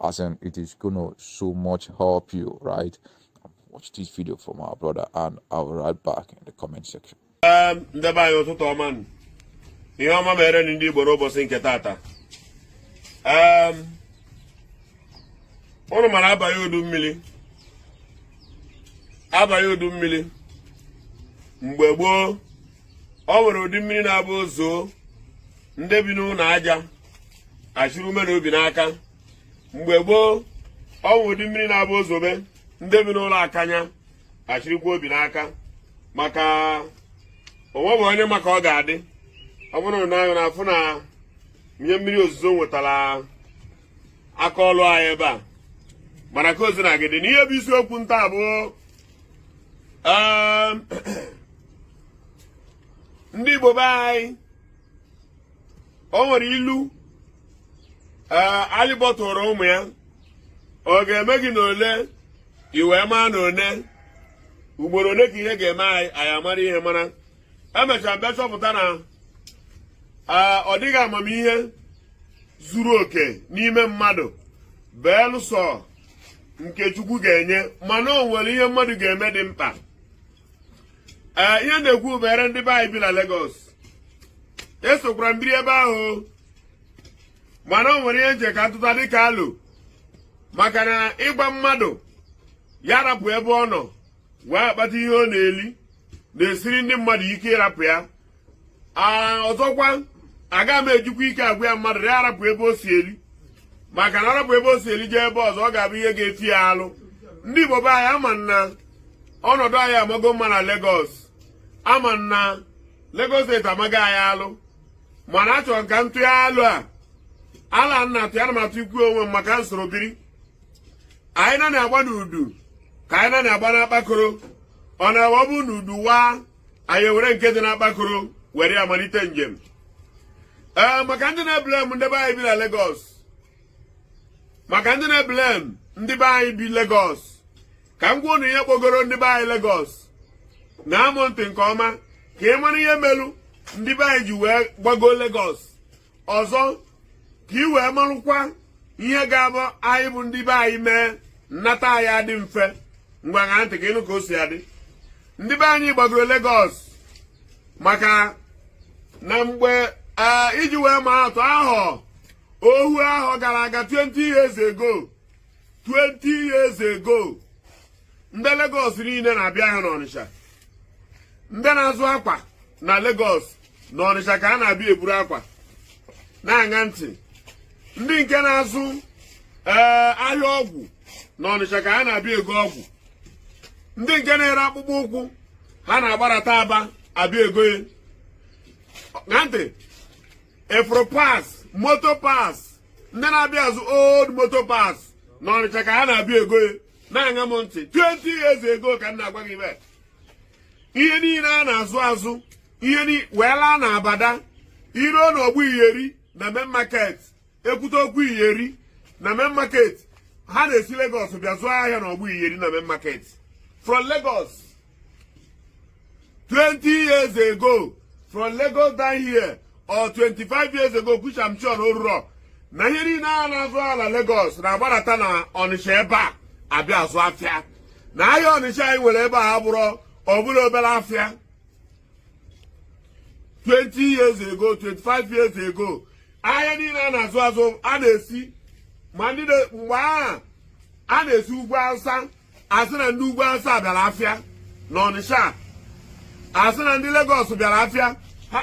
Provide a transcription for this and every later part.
as in it is gonna so much help you right watch this video from our brother and i'll be right back in the comment section um, ndị be anyị ụtụtụ ọma ihe ọma mere ndị igbo n'ụbọchị nke tata um, ụnụ mara abago udu mmiri abago udu mmiri mgbe gboo o nwere ụdị mmiri na-abụ o zoo ndị bi n'ụlọ aja achịrị ume na obi n'aka mgbe gboo o nwere ụdị mmiri na-abụ o zobe ndị bi n'ụlọ akanya achịrịkwa obi n'aka maka o nweghị onye ma ka ọ ga-adị ọ bụrụ na anyị na-afụ na ihe mmiri ozuzo wetara aka ọlụ anyị ebe a mana ka o sina dị na ihe bụ isiokwu m taa bụ um, ndị Igbo be anyị o nwere ilu ee alịbọ tụrụ ụmụ ya ọ ga-eme gị na ole i wee maa na one ugboro ole ka ihe ga-eme anyị anyị amara ihe mana emechara m bịa chọpụta na ọ dịghị amamihe zuru oke n'ime mmadụ beelụsọ nke Chukwu ga-enye mana o nwere ihe mmadụ ga-eme dị mkpa ee ihe m na-ekwu banyere ndị be anyị bi na Lagos esokwara m biri ebe ahụ mana o nwere ihe m che ka m tụta dịka alo maka na ịgwa mmadụ ya rapụ ebe ọ nọ wee akpata ihe ọ na-eli na-esiri ndị mmadụ ike ịrapụ ya ọzọkwa aga m ejikwa ike agwa mmadụ ya rapụ ebe o si eri maka na arapụ ebe o si eri jee ebe ọzọ ọ ga-abụ ihe ga-eti ya alụ ndị Igbo be anyị ama m na ọnọdụ anyị amaghị mma na Lagos ama m na Lagos steeti amaghị anyị alụ mana achọrọ m ka m tụọ alo a alo m na-atụ ana m atụkwu onwe m maka m soro biri anyị na na-agba n'udu ka anyị na na-agba n'akpakoro ọ na-abụ ọ bụrụ na udu waa anyị were nke dị n'akpakoro were ya malite njem ee maka ndị na-eblem ndị be anyị bi na Lagos maka ndị na-eblem ndị be anyị bi Lagos ka m gwa unu ihe kpọgoro ndị be anyị Lagos ṅaa m ntị nke ọma ka ị mara ihe melu ndị be anyị ji wee gbago Lagos ọzọ ka ị wee marụkwa ihe ga-abụ anyị bụ ndị be anyị mee nnata anyị adị mfe ngwa ṅaa ntị ka ị nụ ka o si adị ndị be anyị gbagoro Lagos maka na mgbe e, iji wee maa atụ ahọ ohu ahọ gara aga 20 years ago 20 years ago ndị Lagos niile na-abịa ahịa n'Ọnịcha ndị na-azụ akwa na Lagos n'ọnịcha ka a na-abịa eburu akwa na-aṅa ntị ndị nke na-azụ ee ahịa ọgwụ n'ọnịcha ka a na-abịa ego ọgwụ ndị nke na-ere akpụkpọ ụkwụ ha na-agbarata aba abịa ego ya na ntị efro parts motor parts ndị na-abịa azụ old motor parts n'ọnịcha ka ha na-abịa ego ya na-aṅa m ntị 20 years ago ka m na-agwa gị ihe niile a na-azụ azụ ihe ni wee laa na abada i ruo na ọgbọ iyeri na main market ekwute okwu iyeri na main market ha na-esi Lagos bịa zụọ ahịa na ọgbọ iyeri na main market from Lagos 20 years ago from Lagos down here or 25 years ago which I'm sure oruro na ihe niile a na-azụ ala Lagos na-agbarata na Ọnịcha ebe a abịa azụ afịa na ahịa Ọnịcha anyị nwere ebe a abụrọ ọbụla obere afịa 20 years ago 25 years ago ahịa niile a na-azụ azụ a na-esi ma ndị mgbe ahụ a na-esi ugwu awụsa asị na ndị ugwu awụsa bịara afịa na ọnịsha asị na ndị Lagos bịara afịa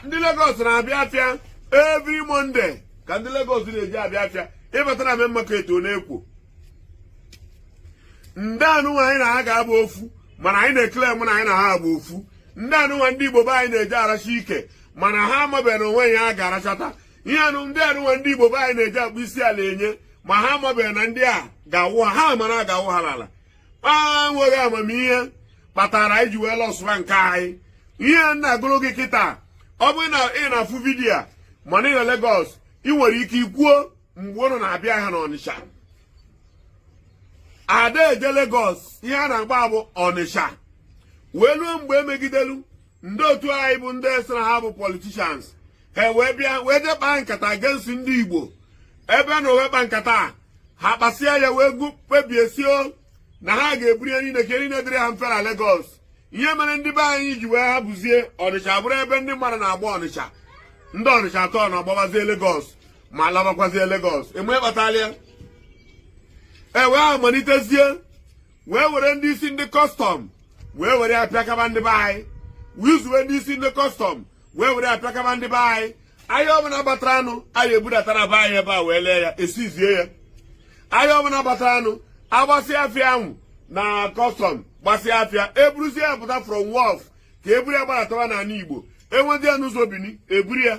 ndị Lagos na-abịa afịa every Monday ka ndị Lagos na-eji abịa afịa ị bata na main market ọ na-ekwo ndị anụnwa anyị na ha ga-abụ ofu mana anyị na-ekele mụ na anyị na ha abụ ofu ndị anụnwa ndị igbo be anyị na-eji aracha ike mana ha amabeghị na onwe ya a ga-arachata ihe anụ ndị anụnwa ndị igbo be anyị na-eji akpụ isi ala enye ma ha amabeghị na ndị a ga-awụ ha ha mara ga-awụ ha n'ala kpa enweghị amamihe kpatara anyị ji wee lọsụwa nke anyị ihe m na-agụrụ gị kịta ọ bụrụ na ị na-afụ vidiyo a mana ị nọ Lagos ị nwere ike ikwuo mgbe ụnụ na-abịa ahịa n'Ọnịsha ada eje Lagos ihe a na-agba bụ Ọnịsha wee ruo mgbe emegidelu ndị otu anyị bụ ndị sị na ha bụ politicians ha wee bịa wee jee kpaa nkata against ndị Igbo ebe anụ wee kpaa nkata ha kpasịa ya wee kpebie sị na ha ga-eburu ya niile ka eri na-edere ha mfe na Lagos ihe mere ndị be anyị ji wee hapụzie ọnịcha bụrụ ebe ndị mmadụ na-agba ọnịcha ndị ọnịcha atọ na-agbabazie Lagos ma labakwazie Lagos enwe kpatalịa e wee malitezie wee were ndị isi ndị custom wee were apịakaba ndị be anyị wee zuwe ndị isi ndị custom wee were apịakaba ndị be anyị ahịa ọbụla batara anụ anyị ebudata na be anyị ebe a wee lee ya esizie ya ahịa ọbụla batara anụ agbasịa afịa ahụ na custom gbasịa afịa eburuzie ya pụta from wharf ka eburu ya gbaratawa n'ala igbo enwezie n'ụzọ Bini eburu ya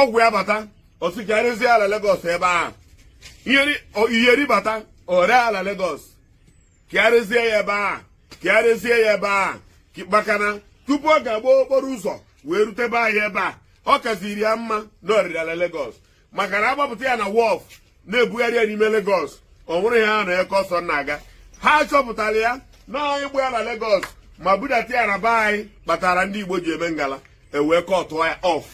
ọgwụ ya bata ọ sị ka ya rezie ya na Lagos ebe a iyeri bata o ree ya na Lagos ka ya rezie ya ebe a ka ya rezie ya ebe a makana tupu ọ ga-agba okporo ụzọ wee rute be anyị ebe a ọ kaziri ya mma na o rere ya na Lagos maka na agbapụta ya na wharf na-ebugharị ya n'ime Lagos ọ nwụrụ ya ha na eke ọsọ na-aga ha chọpụtara ya na anyị gba ya na Lagos ma budata ya na be anyị kpatara ndị Igbo ji eme ngala e wee kọtụọ ya off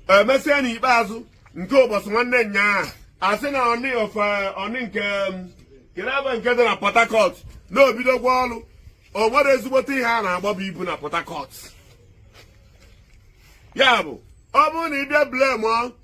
emesịa n'ikpeazụ nke ụbọchị nwanne nyaa a sị na Onne wharf Onne nke kelebe nke dị na Port Harcourt na o bidogwo ọrụ o nwere ezigbote ihe a na-agbaba ibu na Port Harcourt ya bụ ọ bụrụ na ị bịa blame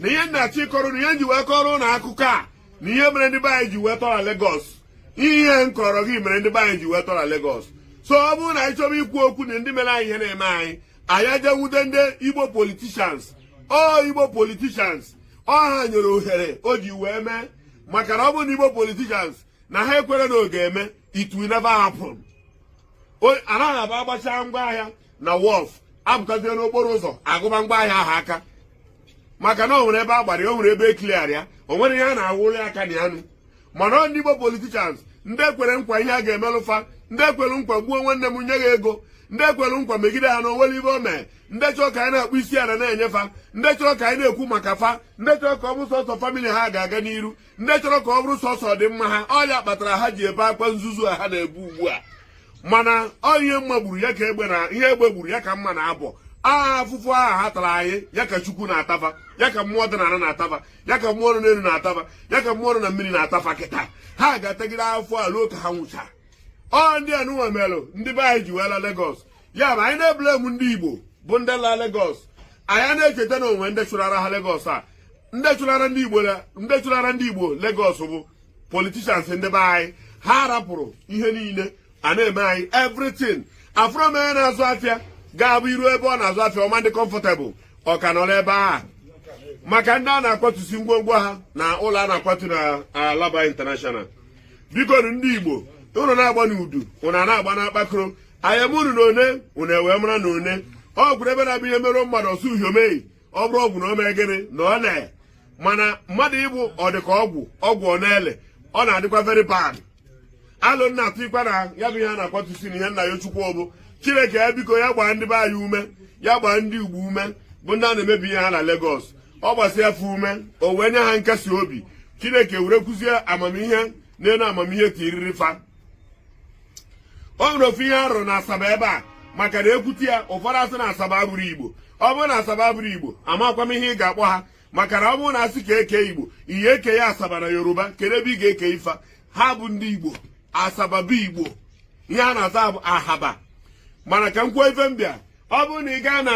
na ihe m na-achọ ịkọrọ ụnụ ihe m ji wee kọrọ ụnụ akụkọ a na ihe mere ndị be anyị ji wee tọ na Lagos ihe m kọrọ gị mere ndị be anyị ji wee tọ na Lagos so ọ bụrụ na anyị chọrọ ikwu okwu na ndị mere anyị ihe na-eme anyị anyị aja nwude ndị Igbo politicians ọ Igbo politicians ọ ha nyere ohere o ji wee mee maka na ọ bụrụ na Igbo politicians na ha ekwero na ọ ga-eme it will never happen anaghị abịa agbachaa ngwa ahịa na wharf apụtazie n'okporo ụzọ agụba ngwa ahịa ahụ aka maka na o nwere ebe a gbara ya o nwere ebe e clear ya o nwere ihe a na-awụrụ ya aka na ya nụ mana ọ ndị Igbo politicians ndị e kwere nkwa ihe a ga-emelụ fa ndị e kwere nkwa gbuo nwanne m nye ya ego ndị e kwere nkwa megide ha na o nwero ihe o mee ndị chọrọ ka anyị na-akpụ isi ala na-enye fa ndị chọrọ ka anyị na-ekwu maka fa ndị chọrọ ka ọ bụ sọsọ family ha ga-aga n'iru ndị chọrọ ka ọ bụrụ sọsọ ọdịmma ha ọ ya kpatara ha ji ebe akwa nzuzu a ha na-ebe ugbu a mana ọ ihe mma gburu ya ka egbe na ihe egbe gburu ya ka mma na-abọ aha afụfụ aha ha tara anyị ya ka chukwu na-ata fa ya ka mmụọ dị na ala na-ata fa ya ka mmụọ nọ n'elu na-ata fa ya ka mmụọ nọ na mmiri na-ata fa kịta ha ga-atagide fa ruo ka ha nwụcha ọ ndị anụnwa melụ ndị be anyị ji wee la Lagos ya ma anyị na-eblame ndị Igbo bụ ndị la Lagos anyị na-echeta na o nwe ndị chụlara ha Lagos a ndị chụlara ndị Igbo Lagos bụ politicians ndị be anyị ha rapụrụ ihe niile a na-eme anyị everything afụrọ m onye na-azụ afịa ga-abụ i ruo ebe ọ na-azụ afịa ọ ma na-adị comfortable ọ ka nọrọ ebe a maka ndị a na-akwatusi ngwongwo ha na ụlọ a na-akwatu na Alaba International biko ndị Igbo ụnụ na-agba n'udu ụnụ a na-agba n'akpakoro ayamunu na one ụnụ ewee mara na one ọ bụrụ ebe na-abụ ihe merụ mmadụ a sị ọ ihe o me ọ bụrụ ọgwụ na o mee gịnị na ọ na mana mmadụ ịbụ ọ dị ka ọgwụ ọgwụ ọ na-ele ọ na-adịkwa very bad alo m na-atụ ikpe na ya bụ ihe a na-akwatusi na ihe m na-ayọ chukwu bụ chineke ya biko ya gbaa ndị be anyị ume ya gbaa ndị Igbo ume bụ ndị a na-emebi ihe ha na Lagos ọ gbasịa fa ume o wee nye ha nkasi obi chineke werekwuzie amamihe n'elu amamihe tiriri fa o nwere ofu ihe arụ na asaba ebe a maka na ekwute ya ụfọdụ asị na asaba abụrọ igbo ọ bụrụ na asaba abụrọ igbo amakwa m ihe ị ga-akpọ ha maka na ọ bụrụ na asị ka eke igbo ị ya-eke asaba na yoruba kedu ebe ị ga-eke fa ha bụ ndị igbo asaba bụ igbo ihe ha na-aza bụ ahaba mana ka m kwuo ife mbịa ọ bụrụ na ị gaa na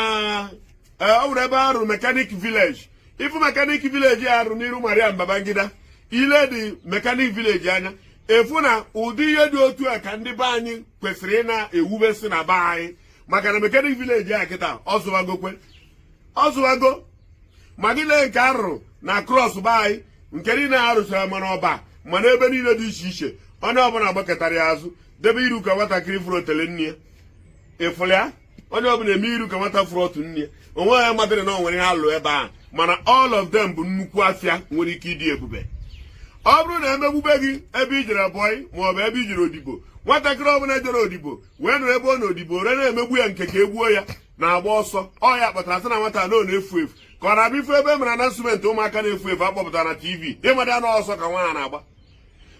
e, o nwere ebe arụ mechanic village ị fụ mechanic village arụ n'iru Mariam Babangida ile dị mechanic village anya ị fụ na ụdị ihe dị otu a ka ndị be anyị kwesịrị ị na-ewubesi na be anyị maka na mechanic village a kịta ọ zụwago ma gị lee nke arụrụ na across be anyị nke niile arụchara ma na Ọba ma na ebe niile dị iche iche onye ọbụla gbakụtara ya azụ debe iru ka nwatakịrị fụrụ otele nne ya ịfụrụ ya onye ọbụla eme iru ka nwata fụrụ ọtụ nne ya onwe ya madịrị na o nwere ihe alụ ebe a mana all of them bụ nnukwu afịa nwere ike ịdị ebube ọ bụrụ na emegbube gị ebe i jere boy maọbụ ebe i jere odibo nwatakịrị ọbụla jere odibo wee nọrọ ebe ọ nọ odibo a na-emegbu ya nke ka egbuo ya na-agba ọsọ ọ ya kpatara sị na nwata na ọ na-efu efu ka ọ na-abịa ị fụ ebe e mere announcement ụmụaka na-efu efu akpọpụtara na tv ịmada na ọsọ ka nwa a na-agba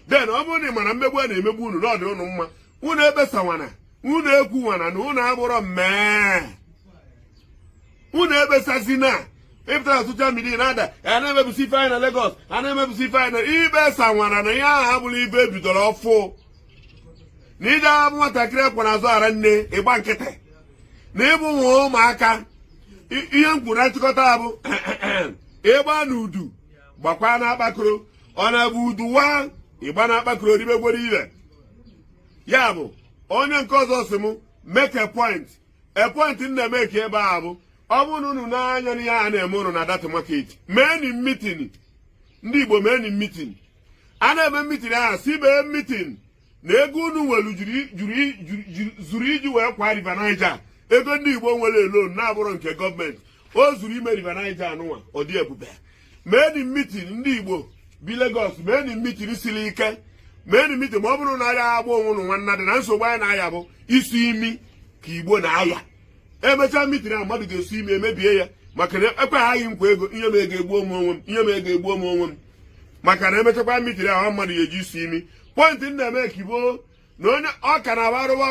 then ọ bụrụ na ị mara mmegbu a na-emegbu unu na ọ dị unu mma unu ekpesawana unu ekwuwana na unu abụrọ mmee unu ekpesazina ịpụta na social media na-ada a na-emebisi ife anyị na Lagos a na-emebisi ife anyị na ekpesawana na ihe ahụ abụrọ ife ebidoro ọfụ na ije abụ nwatakịrị ekwe na azụ ara nne ịgba nkịtị na ịbụ ụmụaka ihe m kwuru na nchịkọta bụ ịgba na udu gbakwa na akpakoro ọ na-abụ udu waa ịgba na akpakoro odibegwere ibe ya bụ onye nke ọzọ si m make a point a point m na-emeki ebe a bụ ọ bụrụ na unu n'anya n'ihe a na-eme unu na that market meeni mitin ndị Igbo meeni mitin a na-eme mitin ahụ si mee mitin na ego unu nwere zuru iji wee kwa river niger ego ndị igbo nwere alone na-abụrọ nke government o zuru ime river niger anụnwa ọ dị ebube meeni mitin ndị igbo bi Lagos meeni mitin siri ike meeni mitin ma ọ bụrụ na aya agba onwe unu nwanna dị na nsogbu anyị na-aya bụ isu imi ka igbo na-aya emechaa mitin a mmadụ ga-esu imi emebie ya maka na ekwe gị nkwa ego inye m ego egbuo m onwe m inye m ego egbuo m onwe m maka na emechakwa mitin ahụ mmadụ ga-eje isu imi point m na-emeki bụ na onye ọka na-abụ arụba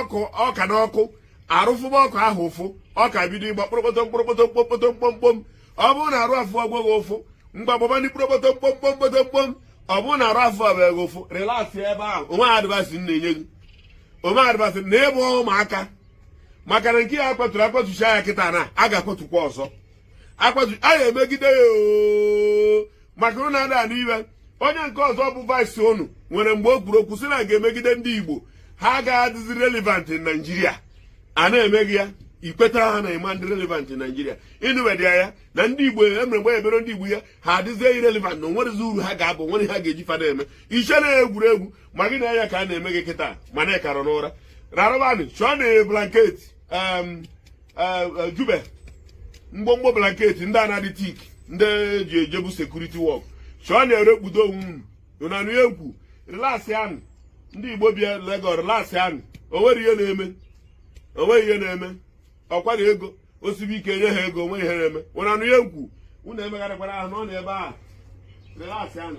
ọka na ọkụ arụ afụba ọka ahụ ụfụ ọka bido ịgba kpụrụkpọtọ mkpụrụkpọtọ mkpọkpọtọ mkpọmkpọm ọ bụrụ na arụ afụgo gị ụfụ mgbe agbaba ndị kpụrụkpọtọ mkpọmkpọm mkpọtọmkpọm ọ bụrụ na arụ afụbeghị ụfụ relax ebe ahụ onwe adịbasị na-enye gị onwe adịbasị na ịbụ ụmụaka maka na nke a akwaturu akwatucha ya kịta na a ga-akwatukwa ọzọ a ga-emegide ya maka unu ada n'iwe onye nke ọzọ bụ vice unu nwere mgbe o kwuru okwu sị na a ga-emegide ndị Igbo ha agaghị adịzi relevant na Naịjirịa a na-emeghị ya ikweta ha na ịma ndị relevant na Naịjirịa ị nụbedị ya na ndị Igbo emere mgbe ebere ndị Igbo ya ha adịzie irrelevant na onwerezi uru ha ga-aba nwere ha ga-eji fada eme iche na egwuregwu ma gị na ya ka a na-eme gị kịta mana ịkara n'ụra rarabanị chọọnụ blanketi eh, eh, jube mgbomgbo blanketi ndị na-adị thick ndị e ji ejebu security work chọọnụ were kpudo onwe unu unu anụ ihe m na-ekwu relaxịanụ ndị Igbo bịa Lagos relaxịanụ onweghị ihe na-eme onweghị ihe na-eme ọkwa na ego osibe ike nye ha ego onweghị ihe na-eme unu anụ ihe m na-ekwu unu emegharịkwala ahụ nọọnụ ebe a relaxịanụ